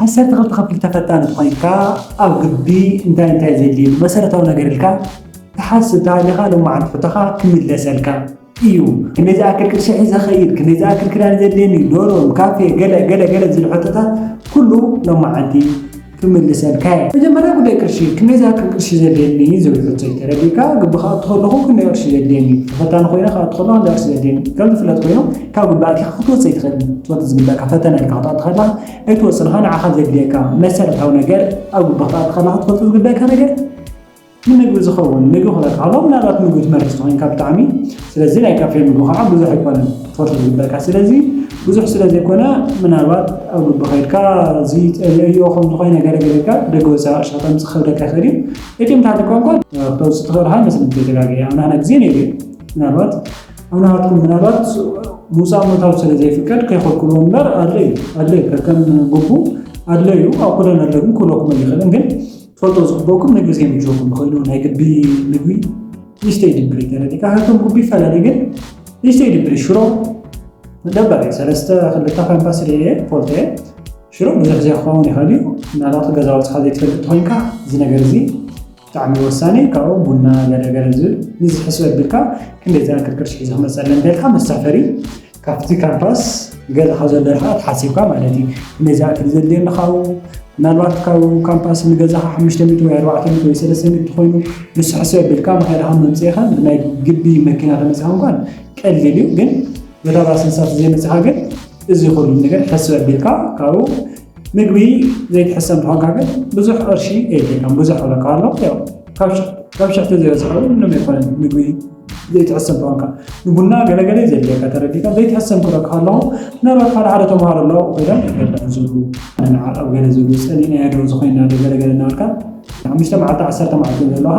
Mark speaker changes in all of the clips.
Speaker 1: ዓሰርተ ክልተ ክፍሊ ተፈታኒ ተኾይንካ ኣብ ግቢ እንታይ እንታይ ዘድልየኒ መሰረታዊ ነገር ኢልካ ትሓስብ ተሃሊኻ ሎሚ መዓልቲ ሕቶኻ ክምለሰልካ ኢዩ ክንደይ ዝኣክል ቅርሺ ሒዘ ክኸይድ ክንደይ ዝኣክል ክዳን ዘድልየኒ ዶርም ካፌ ገለ ገለ ገለ ዝብሉ ሕቶታት ኩሉ ሎሚ መዓልቲ ክምልሰልካ ኢየ መጀመርያ ጉዳይ ቅርሺ ክንደይ ዝኣክል ቅርሺ ዘድልየኒ ዝብል ሕቶ ኢዩ ተረዲእካ ግቢ ክኣቱ ከለኹ ክንደይ ቅርሺ ዘድልየኒ ተፈታኒ ኮይነ ክኣቱ ከለኹ ክንደይ ቅርሺ ዘድልየኒ ከም ዝፍለጥ ኮይኑ ካብ ግቡእ ኣቲኻ ክትወጽእ ኣይትኽእልን። ትወጽእ ዝግበኣካ ፈተነ ኢልካ ክትኣቱ ከለኻ ኣይትወጽእን ኢኻ። ንዓኻ ዘድልየካ መሰረታዊ ነገር ኣብ ግቡእ ክትኣቱ ከለኻ ክትፈልጦ ዝግበኣካ ነገር ንምግቢ ዝኸውን ምግቢ ክበልዕ ከሎ ምናልባት ምግቢ ትመርጽ ተኾይንካ ብጣዕሚ ስለዚ ናይ ካፌ ምግቢ ከዓ ብዙሕ ኣይኮነን ክትፈልጦ ዝግበካ ስለዚ ብዙሕ ስለ ዘይኮነ ምናልባት ኣብ ግቢ ከይድካ እዚ ጠልዮ ከምዚ ኮይኑ ነገር ገለካ ደገ ወፃኢ ቅርሺ ከተምፅእ ክኸብደካ ይኽእል እዩ እቲምታት ቋንቋ ክተውፅእ ትኽእል ካ መስለኒ ተደጋጊ ኣብናና ግዜ ነይሩ ምናልባት ኣብ ናትኩም ምናልባት ምውፃእ ምእታው ስለ ዘይፍቀድ ከይኸልክልዎ እምበር ኣድለዩ ኣድለዩ ከከም ግቡ ኣድለዩ ኣብ ኩለን ኣለግን ክብለኩም ኣይኽእልን ግን ትፈልጦ ዝግበኩም ንግዜ ምጆኩም ንኽእሉ ናይ ግቢ ምግቢ ሊስተይ ድብሪ ተረዲካ ከከም ግቢ ይፈላለ ግን ሊስተይ ድብሪ ሽሮ ደበር እዩ ሰለስተ ክልተ ካምፓስ ስለ እየ ፈልጦ እየ ሽሮ ብዙሕ ግዜ ክኸውን ይኽእል እዩ ምናልባት ገዛ ወፅኻ ዘይትፈልጥ ኮይንካ እዚ ነገር እዚ ብጣዕሚ ወሳኒ ካብኡ ቡና ገለ ገለ ዝብል ንዚ ሕስብ ኣቢልካ ክንደይ ዝኣክል ቅርሺ ሒዘ ክመጽእ ኣለኒ እንተልካ መሳፈሪ ካብቲ ካምፓስ ገዛኻ ዘሎ ርሕቐት ሓሲብካ ማለት እዩ ክንደይ ዝኣክል ዘድልየኒ ካብኡ ምናልባት ካብ ካምፓስ ንገዛኻ ሓሙሽተ ሚእቲ ወይ ኣርባዕተ ሚእቲ ወይ ሰለስተ ሚእቲ ተኾይኑ ንሱ ሕስብ ኣቢልካ መኸድኻ መምጽኢኻን ብናይ ግቢ መኪና ተመጺኻ እንኳን ቀሊል እዩ ግን በታ ባስ ንሳት ዘይመጽኻ ግን እዚ ኩሉ ነገር ሕስብ ኣቢልካ ካብኡ ምግቢ ዘይትሕሰ እንተኾንካ ግን ብዙሕ ቅርሺ ከይድልየካ ብዙሕ ክብለካ ኣሎ ካብ ሽሕቲ ዝበዝሐ እውን ምንም ኣይኮነን ምግቢ ዘይትሕሰ እንተኾንካ ንቡና ገለገለ ዘድልየካ ተረዲእካ ዘይትሕሰ ክብለካ ኣለኹ ምናልባት ሓደ ሓደ ተምሃሮ ኣለዉ ኮይኖም ገለ ዝብሉ ንዓቐብ ገለ ዝብሉ ፀሊእናዮ ዶ ዝኾይና ዶ ገለገለ እናበልካ ሓሙሽተ መዓልቲ ዓሰርተ መዓልቲ ዘለዉኻ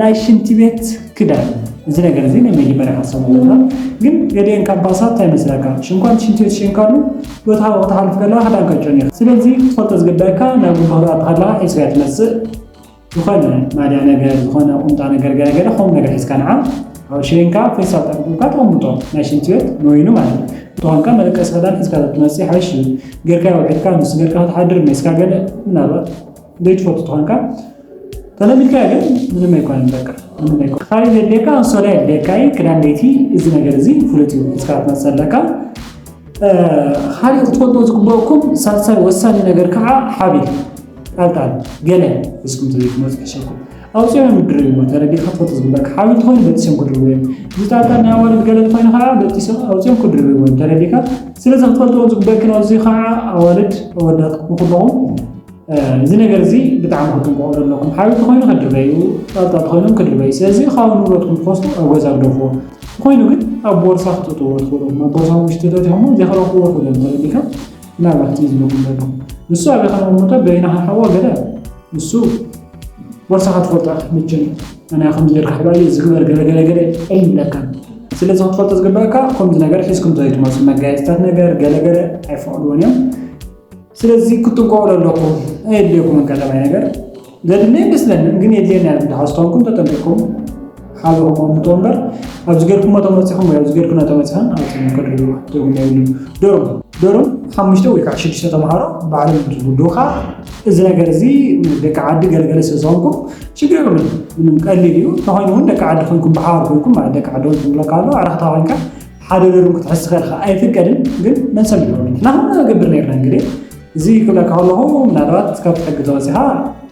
Speaker 1: ናይ ሽንቲ ቤት ክዳን እዚ ነገር እዚ ናይ መጀመርያ ሓሳብ ኣለና ግን ገዲኤን ካብ ባሳት እንታይ መስለካ ሽንኳን ሽንቲ ቤት ሸንካሉ ዶታ ክትሓልፍ ከለካ ክዳንካ ጨኒኻ ስለዚ ክትፈልጦ ዝግባይካ ናብ ጉባ ክትኣቱ ከለካ ሒዝካያ ትመጽእ ዝኾነ ማልያ ነገር ዝኾነ ቁምጣ ነገር ገለ ገለ ከምኡ ነገር ሒዝካ ንዓ ኣብ ሸንካ ፌስታል ጠቅጥብካ ተቐምጦ ናይ ሽንቲ ቤት ንወይኑ ማለት እዩ ተኾንካ መደቀሲ ክዳን ሒዝካ ትመጽእ ይሓይሽ እዩ ጌርካዮ ውዒልካ ምስ ጌርካ ክትሓድር ሜስካ ገለ ምናልባት ዘይትፈልጡ ተኾንካ ተለሚድካ ግን ምንም ኣይኮነን በቃ ምንም ኣይኮነን ክሳሪ ዘድልየካ ኣንሶላ የድልየካ እዩ ክዳን ለይቲ እዚ ነገር እዚ ፍሉጥ እዩ ስካ ትመፅእ ኣለካ ካልእ ክትፈልጦ ዝግበአኩም ሳልሳይ ወሳኒ ነገር ከዓ ሓቢል ጣልጣል ገለ እስኩም ዘይትመፁ ሕሸኩም ኣውፅኦም ምድሪ እሞ ተረዲእካ ትፈልጦ ዝግበአካ ሓቢል ትኾይኑ በጢሶም ክድርቡ እዮም እዚ ጣልጣል ናይ ኣዋልድ ገለ ትኾይኑ ከዓ በጢሶም ኣውፅኦም ክድርቡ እዮም ተረዲእካ ስለዚ ክትፈልጥዎ ዝግበአክን ኣብዚ ከዓ ኣዋልድ ኣወዳት ክኹለኹም እዚ ነገር እዚ ብጣዕሚ ክትንቀቑ ዘለኩም ሓዊ ተኮይኑ ከድርበዩ ጣጣ ተኮይኖም ከድርበዩ ስለዚ ካብ ንብረትኩም ትኮስቱ ኣብ ገዛ ግደፍዎ ተኮይኑ ግን ኣብ ቦርሳ ክትእትዎ ትኽእሉ ኣብ ቦርሳ ውሽጢ ተትኹሞ ዘይክረኽብዎ ክእሉ ተረዲካ ምናልባት እዚ ዝብለኩም ዘሎ ንሱ ኣብ ከነመሞቶ በይና ክንሓዋ ገለ ንሱ ቦርሳኻ ትፈልጦ ኢኻ መቸም ኣነ ከምዚ ጌርካ ሕባ እዩ ዝግበር ገለ ገለ ገለ ኣይብለካ ስለዚ ክትፈልጦ ዝግበኣካ ከምዚ ነገር ሒዝኩም ዘይትመፁ መጋየፅታት ነገር ገለ ገለ ኣይፈቕድዎን እዮም ስለዚ ክትጥንቀቑ ለለኩም ኣየድልየኩምን ቀዳማይ ነገር ዘድሊ ኣይመስለንን ግን የድልየና እዩ ድሓን ዝተኮንኩም ተጠንቂቕኩም ሓብሩ ክቕምጡ እምበር ኣብዚ ገርኩሞ ተመፂኹም ወይ ኣብዚ ገርኩና ተመፂኸን ኣብፅም ከድርዎ ትርጉም የብሉ ዶርም ዶርም ሓሙሽተ ወይ ከዓ ሽዱሽተ ተምሃሮ ባዕሎም ዝውድኡ ከዓ እዚ ነገር እዚ ደቂ ዓዲ ገለገለ ስለ ዝኾንኩም ሽግር የብሉን ምንም ቀሊል እዩ ተኾይኑ እውን ደቂ ዓዲ ኮይንኩም ብሓባር ኮይንኩም ማለት ደቂ ዓዲ ኮይንኩም ብለካ ኣሎ ኣረክታ ኮይንካ ሓደ ገርም ክትሕዝ ትኸልካ ኣይፍቀድን ግን መልሰም ይኸሉ ንሕና ከም ገብር ነርና እንግዲ እዚ ክብለካ ከለኹ ምናልባት ካብቲ ሕጊ ተወፂኻ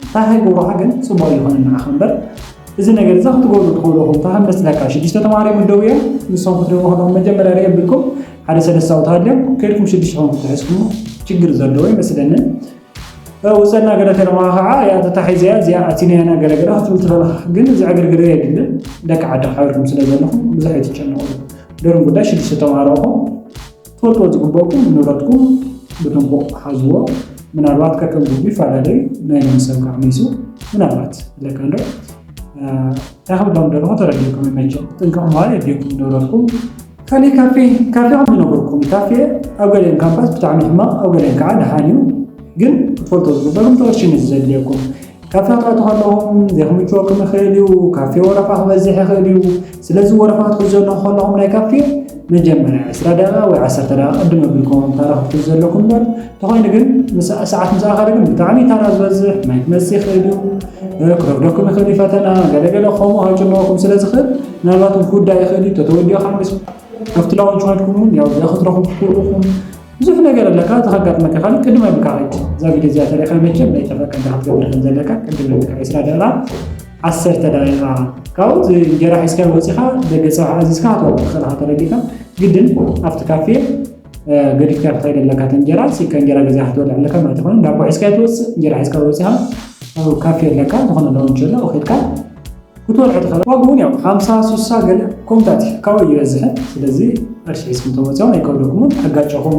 Speaker 1: እንታይ ከይገብሩካ ግን ፅቡቅ ይኾነ ንዓኻ እምበር እዚ ነገር እዛ ክትገብሩ ትኽእልኹም እንታይ ከም መስለካ ሽዱሽተ ተማሃሮ ይምደቡ እዮም ንሶም ክትደቡ ከለኹም መጀመርያ ርእ ብልኩም ሓደ ሰለስተ ኣውት ሃልዮም ከይድኩም ሽዱሽተ ኹም ክትሕዝኩም ችግር ዘለዎ ይመስለኒ ውፀና ገለ ተለማ ከዓ እያ ተታሒዘያ እዚኣ ኣቲነያና ገለ ገለ ክትብል ትኸለኽ ግን እዚ ዕግርግር የድልን ደቂ ዓዲ ሓቢርኩም ስለ ዘለኹም ብዙሕ ኣይትጨነቑ ደርም ጉዳይ ሽዱሽተ ተምሃሮ እኹም ትፈልጥዎ ዝግበእኩም ንብረትኩም ብጥንቁቕ ሓዝዎ ምናልባት ከከም ጉዱ ይፈላለዩ ናይ ሎሚ ሰብ ከዓ መይሱ ምናልባት ለካንዶ እንታይ ክብሎም ደለኹ ተረዲእኩም ይመቸ ጥንቅቕ ምባል የድልየኩም ንብረትኩም ካልእ ካፌ ካፌ ከም ዝነበርኩም ካፌ ኣብ ገሊኦም ካምፓስ ብጣዕሚ ሕማቕ ኣብ ገሊኦም ከዓ ደሓን እዩ ግን ክትፈልጦ ዝግበርኩም ተወርሽን እዩ ዘድልየኩም ካፌ ክትኣቱ ከለኹም ዘይክምችወኩም ይኽእል እዩ ካፌ ወረፋ ክበዝሕ ይኽእል እዩ ስለዚ ወረፋ ክትሕዘሉ ከለኹም ናይ ካፌ መጀመርያ ዕስራ ደቂቃ ወይ ዓሰርተ ደቂቃ ቅድም ኣቢልኩምዎም ታራ ክትሕዙ ዘለኩም እምበር እንተኾይኑ ግን ሰዓት ምስ ኣኸለ ግን ብጣዕሚ ታራ ዝበዝሕ ማይ ክመጽእ ይኽእል እዩ ክረፍደኩም ይኽእል እዩ ፈተና ገለገለ ከምኡ ከጭንቐኩም ስለ ዝኽእል ምናልባት እውን ክውዳእ ይኽእል እዩ ተተወዲኦ ከዓ ምስ ኣብቲ ላውንች ኮይንኩም እውን ያው እዚኣ ክትረኽቡ ትኽእሉ ኢኹም ብዙሕ ነገር ኣለካ እዚ ከጋጥመካ ይኽእል ቅድም ኣቢልካ ከይድ እዛ ቪድዮ እዚኣ ተሪእኻ መቸም ናይ ጠፈቀ እንዳ ክትገብር ከም ዘለካ ቅድም ኣቢልካ ዕስራ ደቂቃ ዓሰርተ ደቂቃ ካብኡ እንጀራ ሒዝካዮ ወፂእኻ ደገ ፀብሒ ኣዚዝካ ሃተወላ ክሰልኻ ተረዲእካ ግድን ኣብቲ ካፌ ገዲፍካ ክትኸይድ ኣለካ እቲ እንጀራ ሲካ እንጀራ ገዚኻ ክትበልዕ ኣለካ ማለት ይኮነ ዳቦ ሒዝካ ትወፅእ እንጀራ ሒዝካ ወፂኻ ኣብ ካፌ ኣለካ ዝኾነ ሎንች ኣሎ ከድካ ክትበልዑ ትኽእል ዋግ እውን ያው ሓምሳ ስሳ ገለ ኮምታት እዩ ካብኡ ይበዝሐ ስለዚ ቅርሺ ሒዝኩም ተወፅኦም ኣይከብደኩምን ከጋጨኹም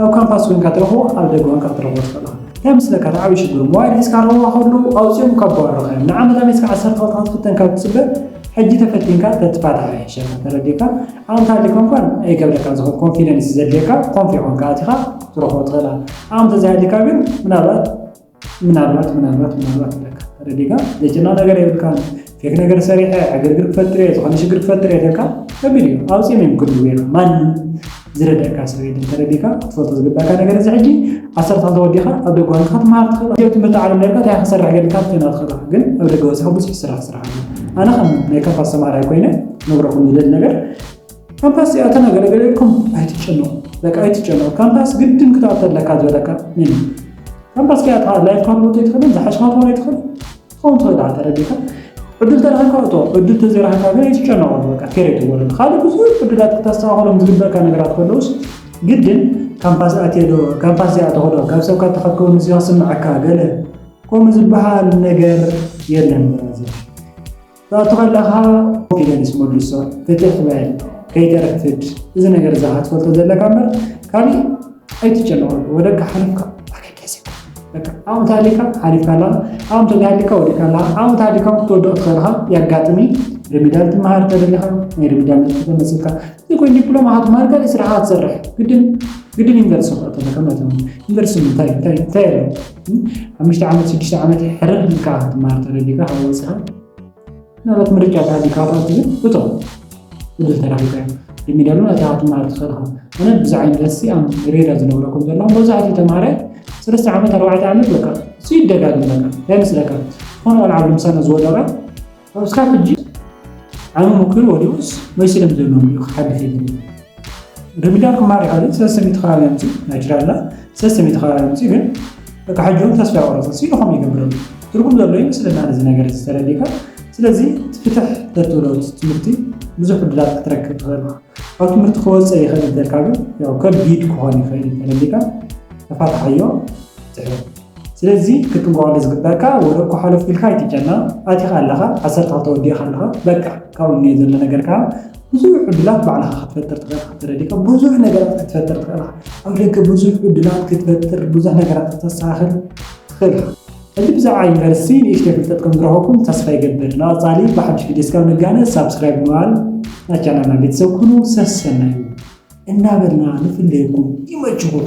Speaker 1: ኣብ ካምፓስ ኮይንካ ትረኽቦ ኣብ ደገ ኮይንካ ክትረኽቦ ትኽእል ኢኻ። እንታይ መስለካ እቲ ዓብዪ ሽግሩ ሞባይል ሒዝካ ረኽቦ ከለዉ ኣውፂኦም እኳ ኣባረሩኻዮም ንዓመት ኣመት እስካዕ ዓሰርተ ክልተ ክትፍተን ካብ ትፅበ ሕጂ ተፈቲንካ ተትፋታሕ ይሕሸካ ተረዲእካ ዓመት ሃሊካ እንኳን ኣይከብደካን ዝኸ ኮንፊደንስ ዘድልየካ ኮንፊ ኮይንካ ኣቲኻ ክትረኽቦ ትኽእል ኢኻ ዓመት ተዘይሃሊካ ግን ምናልባት ምናልባት ምናልባት ምናልባት ኣለካ ተረዲእካ ዘጭና ነገር የብልካ ፌክ ነገር ሰሪሐ ዕግርግር ክፈጥር እየ ዝኾነ ሽግር ክፈጥር እየ ደልካ ከቢድ እዩ ኣውፅኦም እዮም ክድልዎ ኢኻ ማንም ዝረዳእካ ሰብ የለን ተረዲእካ ክትፈልጦ ዝግባእካ ነገር እዚ ሕጂ ዓሰርተ ክልተ ወዲኻ ኣብ ደገ ዋንካ ክትመሃር ትኽእል ኢትዮጵያ ትምህርቲ ዓለም ነርካ እንታይ ክሰርሕ ጌርካ ትኾና ትኽእል ኢኻ ግን ኣብ ደገ ወፂኻ ብዙሕ ስራሕ ስራሕ ኣሎ ኣነ ከም ናይ ካምፓስ ተምሃራይ ኮይነ ነብረኹም ዝደሊ ነገር ካምፓስ እዚኣ እተ ነገረ ገረ ኢልኩም ኣይትጨነቁ በቃ ኣይትጨነቁ ካምፓስ ግድን ክትኣቱ ኣለካ ዝበለካ መን እዩ ካምፓስ ከኣ እታ ላይፍ ካርቦት ኣይትኽእልን ዝሓሽካ ትኾን ኣይትኽእል ትኸውን ትኽእል ድኣ ተረዲእካ ዕድል ተረኺብካ እቶ ዕድል ተዘይረኺብካ ግን ኣይትጨነቁ በቃ ኬር ኣይትበሉ ካልእ ብዙሕ ዕድላት ክተስተኻኸሎም ዝግበእካ ነገራት ከለውስ ግድን ካምፓስ ኣትየዶ ካምፓስ እዚኣ ተኸዶ ካብ ሰብካ ተኸከውን እዚ ክስምዐካ ገለ ከምኡ ዝበሃል ነገር የለን በራዚ ክትኣቱ ከለኻ ኮንፊደንስ መድርሶ ፍትሕ በል ከይተርፍድ እዚ ነገር እዛ ክትፈልጦ ዘለካ እምበር ካሊእ ኣይትጨነቀሉ ወደካ ሓሊፍካ ዓቕሚ ተሃሊካ ሓሊፍካ ኣለኻ ዓቕሚ ተዘይሃሊካ ወዲእካ ኣለኻ ዓቕሚ ተሃሊካ ክትወድቕ ትኽእል ኢኻ የጋጥም እዩ ሪሚዳል ትመሃር ተደሊኻ ናይ ሪሚዳል ነጥቢ ተመሲልካ ዘይኮይኑ ዲፕሎማ ክትመሃር ካልእ ስራሕ ክትሰርሕ ግድን ግድን ዩኒቨርሲቲ ክትኣቱ ኣለካ ማለት እዩ ዩኒቨርሲቲ እንታይ እንታይ እንታይ ኣለዎ ሓሙሽተ ዓመት ሽዱሽተ ዓመት ሕርር ኢልካ ክትመሃር ተደሊኻ ካብ ወፃኢ ምናልባት ምርጫ ተሃልዩካ ኣብኣ ትብል እቶ ዕድል ተረኺብካ እዩ ቅድሚ ድማ እታ ክትመሃር ትኽእል ኢኻ ኣነ ብዚ ዓይነት ደሲ ኣብ ሬዳ ዝነብረ ከም ዘለኹ መብዛሕትኡ ተምሃራይ ሰለስተ ዓመት ኣርባዕተ ዓመት በቃ እሱ ይደጋግም በቃ እንታይ መስለካ ዝኾነ ቆልዓ ኣብ ልምሳና ዝወደቐ ኣብ ስካብ ሕጂ ዓሚ ምክሪ ወዲኡስ ወይ ስለም ዘለዎም እዩ ክሓድፍ ይብል ርሚዳን ክማሪ ሓደ ሰሰሚቲ ከባቢ ኣምፂ ናይችላላ ሰሰሚቲ ከባቢ ኣምፂ ግን በቃ ሕጂ እውን ተስፋ ያቆረፀ ሲ ንኸም ይገብረሉ ትርጉም ዘሎ እዩ ምስለና ነዚ ነገር ዝተረዲካ ስለዚ ፍትሕ ተትብሎ ትምህርቲ ብዙሕ ዕድላት ክትረክብ ትኽእል ካብ ትምህርቲ ክወፀ ይኽእል ዘለካ ግን ከቢድ ክኾን ይኽእል ተረዲካ ተፋትሓዮ ትሕል ስለዚ ክትትንኮኣሉ ዝግበኣካ ወረ እኮ ሓሎፍ ኢልካ ኣይትጨና ኣቲካ ኣለካ ዓሰርተ ክልተ ወዲእካ ኣለካ በቃ ካብኡ እንኤ ዘሎ ነገር ከኣ ብዙሕ ዕዱላት ባዕልካ ክትፈጥር ትክእል ኢካ ተረዲእካ ብዙሕ ነገራት ክትፈጥር ትክእል ኢካ ኣብ ደገ ብዙሕ ዕዱላት ክትፈጥር ብዙሕ ነገራት ክተስተካክል ትክእል ኢካ ሕጂ ብዛዕባ ዩኒቨርሲቲ ንእሽተይ ፍልጠት ከም ዝረከብኩም ተስፋ ይገብር ንቀጻሊ ብሓድሽ ቪድዮ እስካብ ንጋነ ሳብስክራይብ ብምባል ናይ ቻናልና ቤተሰብ ኩኑ ሰሰናዩ እናበልና ንፍለየኩም ይመችኩም።